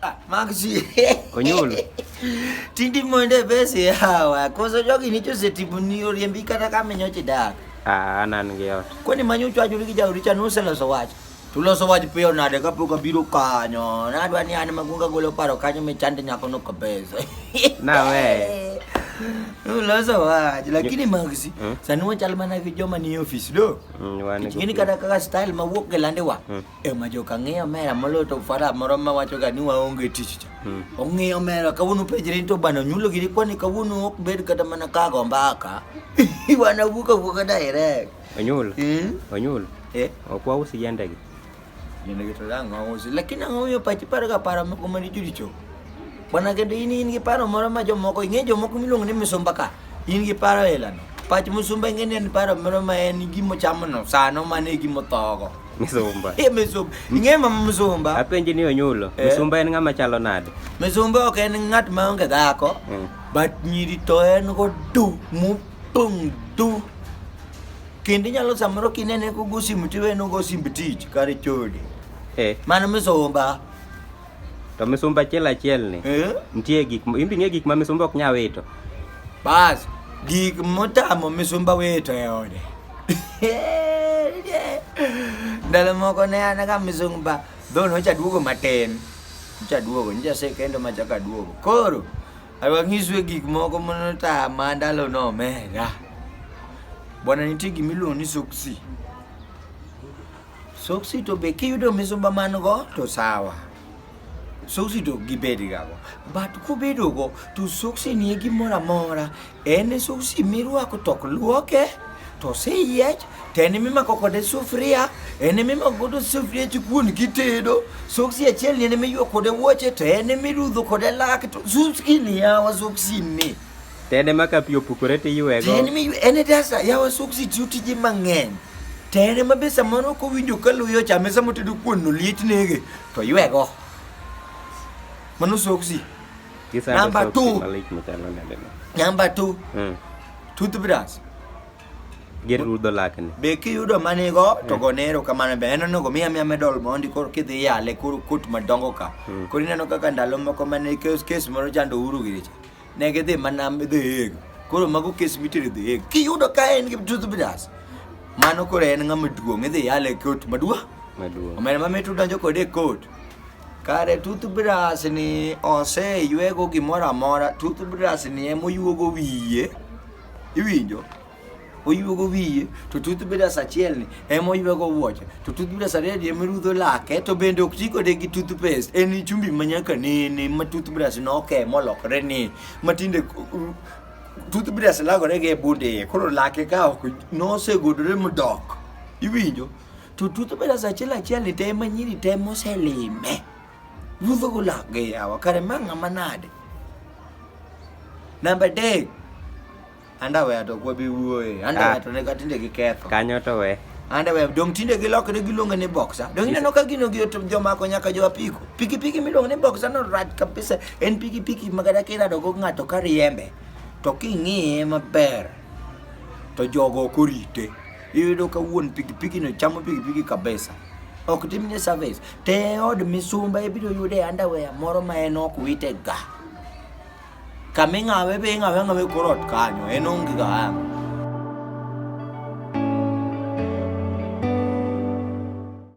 Ah, Maxi. Onyolo. Tindi moende besi hawa. Koso jogi nicho setibu ni oriembi kata kama nyoche dak. Ah, anan gi ot. Kwani manyo chwacho gi jauri cha nuse loso wach. Tuloso wach piyo nade ka pok abiro kanyo. Nadwa ni an magunga golo paro kanyo me chande nyako no kabisa. Na we. Uloso wach lakini Maxi, hmm? sani wachal mana gi joma ni office do. Hmm, Ngini kata kaka style mawuok gelande wa. Hmm. ema jo kang'iyo mera moloyo to fara moro ma wacho ga ni waonge tich cha hmm. ong'iyo mera kawuono pejre to bana nyulo giri kwani kawuono ok bed kata mana ka go mbaka wana wuka wuka direct onyul hmm? onyul eh ok wausi yande gi yande gi to dango wausi lakini ang'o yo pachi par ga para moko maricho richo Bwana kendo in in gi paro moro ma jomoko ing'e jomoko miluongo ni misumba ka in gi paro elano pach musumba ing'e ni en paro moro ma en gimo chamono sano mane e gimo thogo misumba e misumba ing'e ma misumba apenji ni onyulo eh. misumba en ng'ama chalo nade misumba ok en ng'at ma onge dhako mm. but nyiri to en go du mupong du kendo inyalo samoro kinene kogo simu tiweno go simb tich kare chode eh. mano misumba To misumba achiel achiel ni Eh? nitie gik ma- imbi ng'e gik ma misumba ok nya wito. Bas, gik motamo misumba wito e ode. Ndalo moko ne an ka misumba dhon ocha duogo matin. Ocha duogo, nja se kendo ma chaka duogo. Koro, alwa ng'iswe gik moko monotama ndalo no omera. Bwana nitie gimiluongo ni soksi. Soksi to be kiyudo misumba man go to sawa. Soksi to gibed gago. But kubedo go to soksi nie gimoro amora. En soksi mirwako tok luoke to oseyiech to en mimako kode sufuria en mimako godo sufuria chikuon kitedo soksi achiel ni en miywa kode wuoche to en mirudho kode lak to soksi ni yawa soksi ni Tede ma ka pi opukore to iywego. Tede mi en e dasa yawa soksi tiyo tije mang'eny. Tede ma be samoro ok owinjo ka luyo chame sama otedo kuon no liet nege to ywego. Mano soksi. Kisando Namba soksi two. malich machalo nade no. Namba 2, Mm. toothbrush. Gir rudho lakni. Be kiyudo manigo to go nero kamano be en onego miya miya medal mondi koro kidhi yale koro kot madongo ka. Koro ineno kaka ndalo moko mane kes kes moro chando uru giricha. Ne gidhi mana The Hague. Koro mago kes mitere The Hague. Kiyudo ka en gi toothbrush, mano koro en ng'ama duong' idhi yale e kot maduong'. Maduong'. Omera ma mit udonjo kode e kot. Kare toothbrush ni oseywego gimoro amora, toothbrush ni emoyuogo wiye. Iwinjo? oyuogo wiye to tut bedas achiel ni ema oyuogo wuoche to tut bedas ariyo ni ema rudho lake to bende ok ti kode gi tooth paste en chumbi ma nyaka nene ma tooth brush noke molokre ni ma tinde tooth brush lagore gi e bunde iye koro lake ka ok nosegudore modok iwinjo to tooth brush achiel achiel ni te ema nyiri te moselime rudho go lake yawa kare ma ng'ama nade namba adek Anda we to kwa bi wuoye. Anda Ah. we to ne ka tinde gi ketho. Kanyo to we. Anda we dong tinde gilokre giluonge ni boxer. Dong ineno ka gino gi to jomako nyaka jo apiko. Pikipiki miluongo ni boxer no rach kabisa. En pikipiki ma kata kirado go ng'ato ka riembe. To king'iye maber to jogo ok orite. Iyudo ka wuon pikipiki no chamo pikipiki kabisa. Ok timne service. Te od misumba ibiro yude underwear moro ma en ok wite ga. Kama ing'awe be ing'awe ang'awa e kor ot kanyo, en onge ga ang'.